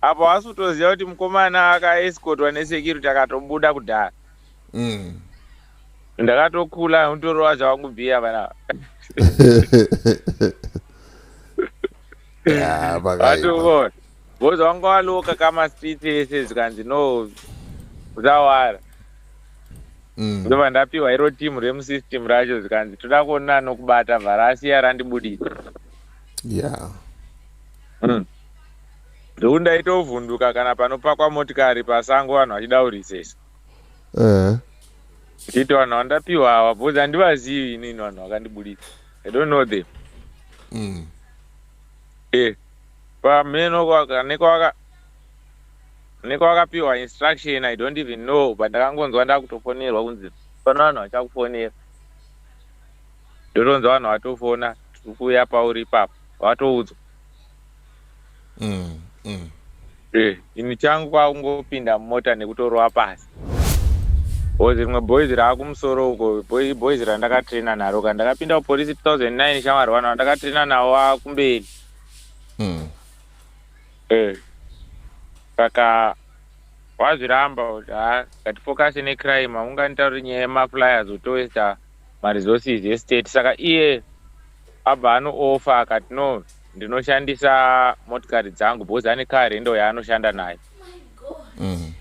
Apo haasi kutoziva kuti mukomana akaescotwa nesecurity akatobuda kudhara. Mm. Ndakatokula utorova zvavakubhiya vana. Yeah, pakaipa. Boza wanga waloka kama street ese zvikanzi no zvawara. Mm. Ndova ndapiwa iro team remu system racho zvikanzi toda kuona nokubata vharasi yarandibudisa. Yeah. Mm. Ndoo ndaitovhunduka kana panopakwa motikari pasango vanhu vachidaurisesa. Ehe. Ndichiti vanhu vandapiwa hawa bhozi handivazivi inini vanhu vakandibuditsa. I don't know them. Mm. Eh. Pameno kwaka nekwaka nekwakapiwa instruction I don't even know but ndakangonzwa ndakutofonerwa kunzi pano vanhu vachakufonera. Ndotonzwa vanhu vatofona tikuuya pauri ipapo vatoudzwa. mm, mm. Eh, ini changu kwakungopinda mumota nekutorova pasi bhozi rimwe bhoizi raakumusoro uko bhoizi randakatraina naro ka ndakapinda kupolisi 2009 shamwari vanhu vandakatraina navo vakumberi mm. eh, saka wazviramba kuti ha ngatifokase necrime aunganitauri nyaya yemaflyers utowesta maresources estate saka iye abva anooffa akati no ndinoshandisa motikari dzangu because ane car rendo yaanoshanda nayo mm.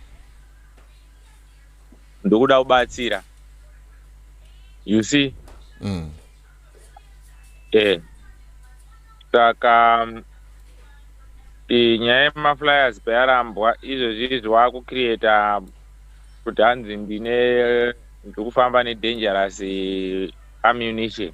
ndokuda kubatsira you see mm. eh saka e, nyaya yemaflyers payarambwa izvozvi zvawakukrieta kuti hanzi ndine ndiri kufamba nedangerous ammunition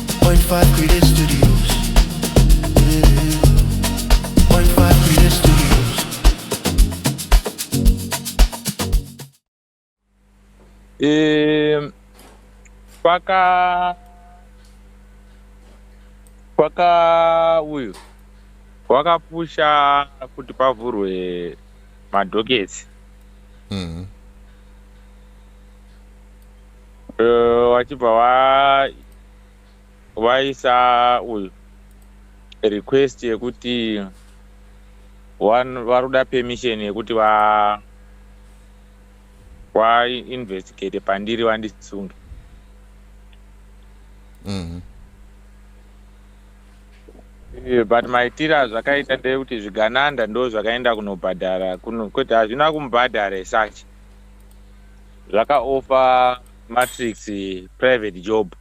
E, paka paka uyu wakapusha kuti pavhurwe madhokesi mm -hmm. Eh, vachibva va vaisa uyu request yekuti wan- vari kuda permission yekuti va vainvestigate pandiri vandisunge Mhm. Eh, but maitiro azvakaita ndeyekuti zvigananda ndo zvakaenda kunobhadhara kuno kwete hazvina kumubhadhara esachi zvakaofa matrix private job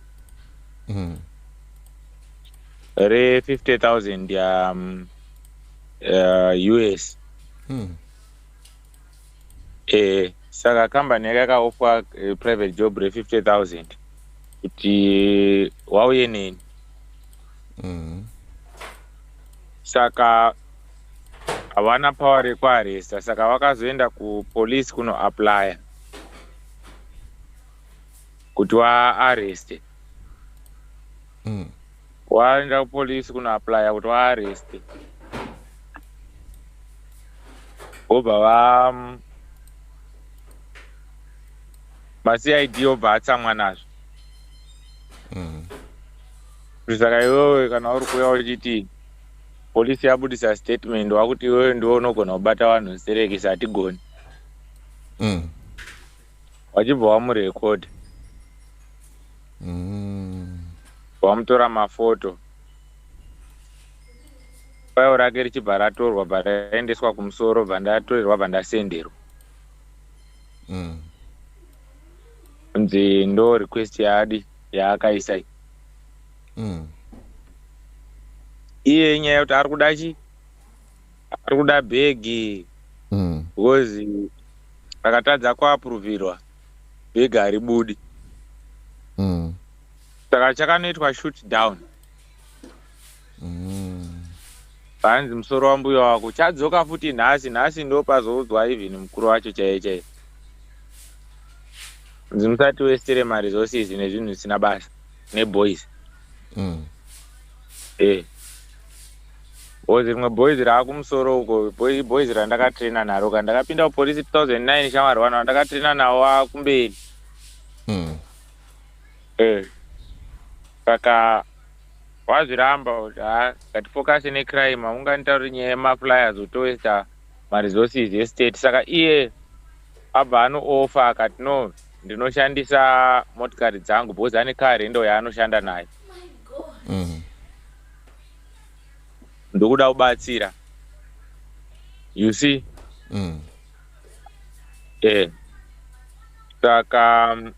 mm. re 50000 ya um, uh, us mm. e, saka kambani yake yakaofa uh, private job re 50000 kuti wauye neni mm. saka havana power rekuaresta saka vakazoenda kupolice kunoaplya kuti waareste mm. waenda kupolice kunoaplya kuti waareste vobva va mm, macid obva atsamwa nazvo mm. saka iwewe kana uri kuya uchiti Police yabudisa statement wakuti iwewe ndiwe unogona kubata vanhu nserekisi hatigoni. Mm. Wachibva wamurecord. Mm. Wamutora mafoto. File rake richibva ratorwa bva raendeswa kumusoro bva ndatorerwa bva ndasenderwa. Mm. Nzi ndo request yaadi yaakaisa. mm. iye inyaya yekuti ari kuda chi ari kuda bhegi mm. because akatadza kuapuruvirwa bhegi hari budi mm. saka mm. chakanoitwa shoot down mm. panzi musoro wambuya wako chadzoka futi nhasi nhasi ndo pazoudzwa even mukuru wacho chaiye chaiye nzi musati westere maresources nezvinhu zvisina basa neboys mm. eh boys rimwe boys raakumusoro uko boys randakatraina naro ka ndakapinda kupolisi 2009 shamwari vanhu vandakatraina nawo akumberi mm. eh saka wazviramba kuti ha ngatifokase necrime haunganitauri nyaya yemaflyers utowaster maresources estate saka iye abva anoofa akati no ndinoshandisa motikari dzangu because ane kari ndo yaanoshanda nayo mm. ndokuda kubatsira you see mm. eh saka um,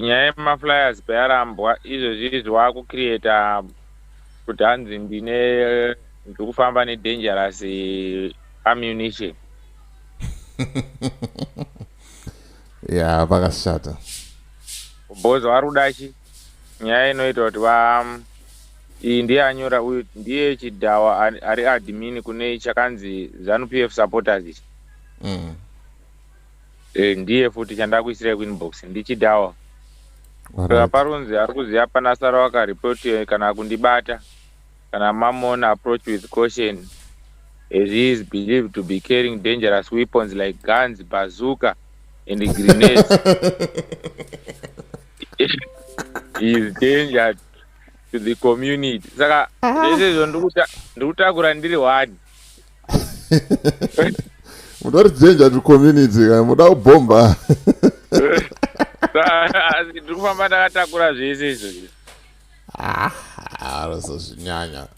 nyaya yemaflyers payarambwa izvozvizvi wakucreata kuti hanzi ndine ndiri kufamba nedangerous ammunition ya vakashata bozo vari kuda chi nyaya inoita kuti va iyi ndiye anyora uyu ndiye chidhawa ari admin kune chakanzi zanu pf supporters ichi mm. e, ndiye futi chandakuisirai kuinbox ndichidhawa right. parunzi ari kuziva pana sara wakaripoti kana kundibata Kana mamon approach with caution as he is believed to be carrying dangerous weapons like guns, bazooka and grenades. he is danger to the community. Saka zvese izvo ndikutakura ndiri wani. Mutori danger to community kana muda kubhomba. Ndikufamba ndakatakura zvese izvo. arozozvinyanya ah,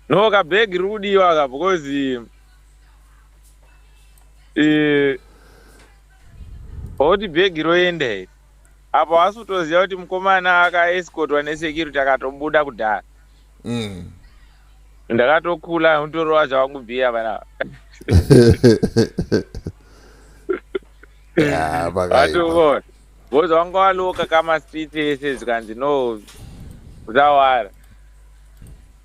no ka bag riri kudiwa ka because eh, oti bag roenda iri apo hasi kutoziva kuti mukomana akaescotwa nesecurity akatobuda kudhara mm. ndakatokula utorova zvavakubhiya vana yeah, Boys vanga valoka kama street ese zvikanzi no kuzawara.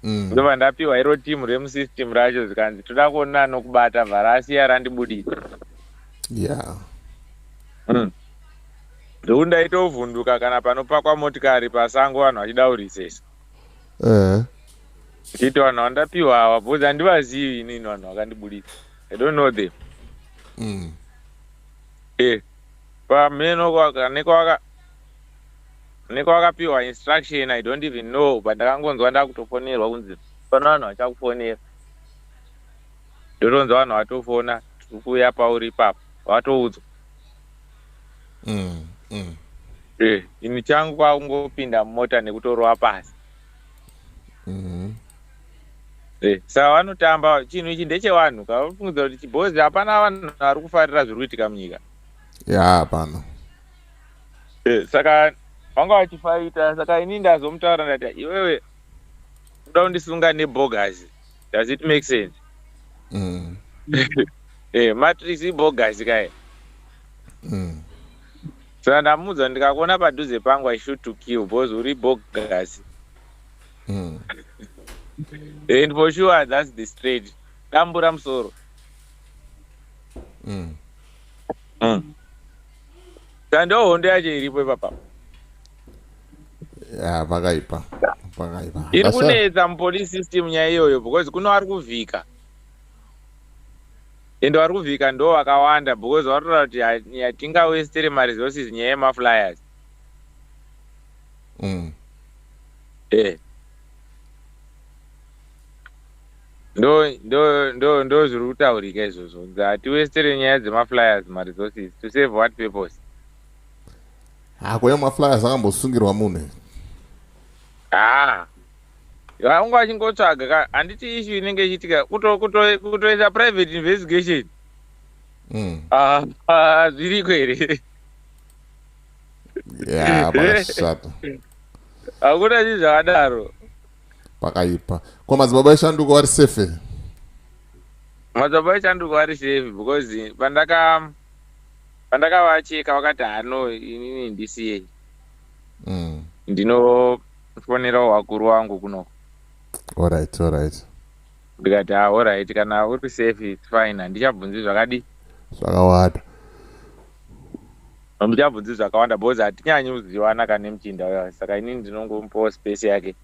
Mm. Ndova ndapiwa iro team remu system racho zvikanzi toda kuona anokubata vhara asiya randibudisa. Yeah. Mm. Ndokuti ndaitovhunduka kana panopakwa motikari pasango vanhu vachidaurisesa. Eh. Uh -huh. Ndichiti vanhu vandapiwa awa because handivazivi inini vanhu vakandibudisa. I don't know them. Mm. Eh. Pamheno nekwavakapiwa instruction I don't even know but ndakangonzwa ndakutofonerwa kunzi fana vanhu vachakufonera ndotonzwa vanhu vatofona tiri kuuya pauri ipapo vatoudzwa mm, mm. Eh, ini changu kwakungopinda mumota nekutorova pasi mm. Eh, saka vanotamba chinhu ichi ndechevanhu ka vafungidza kuti chibhozi hapana vanhu vari kufarira zviri kuitika munyika ya hapana eh, saka vanga vachifaita saka ini ndazomutaura ndati iwewe uda kundisunga nebogasi does it make sense mm. eh, matrix ibogasi kae mm. saka ndamuudza ndikakuona padhuze pangu i shoot to kill bcause uri bogasi mm. and for sure thats the straight dambura musoro mm. mm. sandiwo hondo yacho iripo ipapa ya pakaipa pakaipa iri kunetsa mupolice system nyaya iyoyo because kuno ari kuvhika ende vari kuvhika ndo vakawanda because vatoda kuti yatingawestere maresources nyaya yemaflyers mm. Eh. Ndo ndo ndo ndo zviri kutaurika izvozvo. Ngatiwestere nyaya dzemaflyers maresources to save what purpose? Hako ah, yemaflyers akambosungirwa munhu. Ah. Vangu vachingotsvaga ka handiti issue inenge ichiitika kuto kuto kutoita private investigation. Mm. Ah, ah zviriko here? ya pakashata hakuna chii zvakadaro pakaipa ko madzibaba eshanduko vari safe madzibaba eshanduko vari safe because pandaka pandakavacheka vakati hano inini ndisiyei mm. ndinofonerawo wakuru wangu kunoko orit orit ndikati ha ah, orit kana uri safe fine handichabvunzi zvakadii zvakawanda Hamuchabvunzi zvakawanda because hatinyanyi kuzivana kana nemuchinda uya saka inini ndinongomupawo space yake.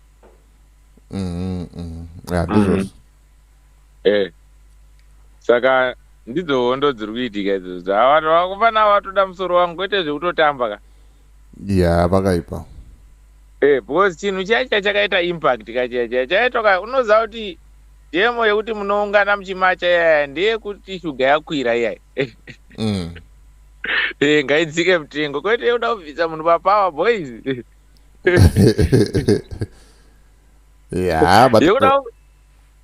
Mhm. mhm. Yeah, Mhm. ndizvozvo. Eh. Saka ndidzo hondo dziri kuitika idzodzo. Ava vanhu vakufana vatoda musoro wangu kwete zvekutotamba ka. Yeah, pakaipa. Eh, because chinhu chiya chiya chakaita impact ka chiya chiya chaitwa ka unoziva kuti demo yekuti munoungana muchimacha iyaya ndeyekuti shuga yakwira iyaya. Mm. Eh, ngaidzike mutengo kwete yekuda kubvisa munhu papower boys. yeah, but yekuda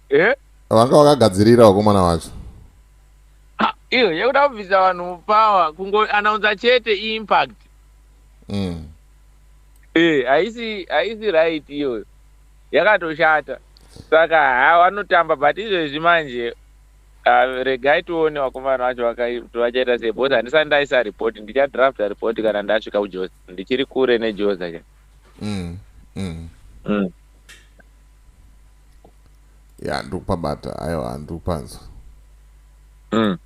eh? Vanga vakagadzirira wakomana wacho. Ha, iyo yekuda kubvisa vanhu mupower kungoanaunza chete iimpact mm. e haisi haisi right iyoyo yakatoshata saka ha vanotamba but izvezvi manje uh, regai tione vakomana vacho vakati vachaita sei bcause handisati ndaisa report ndichadrafta report kana ndasvika kujoza ndichiri kure nejoza cha mm. mm. mm. ya ndiri kupabata aiwa ndiri kupanzwa mm.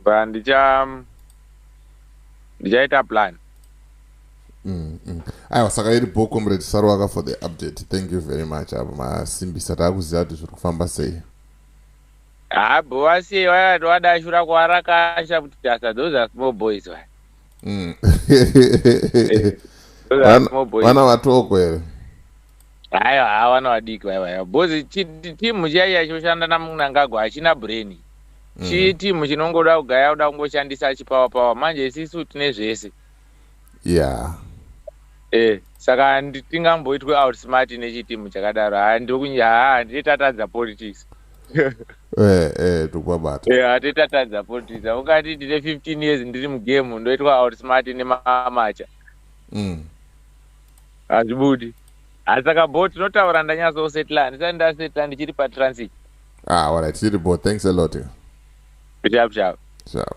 ba ndicha ndichaita plan mm, mm. aiwa saka iri bo comrade sarwaka for the update thank you very much apo masimbisa taakuziva kuti zviri kufamba sei habo vasiye vayati wadashura kwarakasha kuti asa those are small boys vaya mm. vana vatoko here Hayo hawa vana vadiki vaya vaya bozi timu chaiya choshanda namunangagwa hachina brain mm. chii timu chinongoda kugaya kuda kungoshandisa achipawa pawa manje isisu tine zvese yeah eh saka tingamboitwe out smart nechitimu chakadaro haa ndokunya haa handiti tatadza politics eh eh tukwabata eh handiti tatadza politics ungati ndine 15 years ndiri mugame ndoitwa out smart nemamacha mm hazvibudi asi saka bo tinotaura ndanyatsosetla handisati ndasetla ndichiri patransit ah, alright tiri bo thanks a lot chavo chavo chavo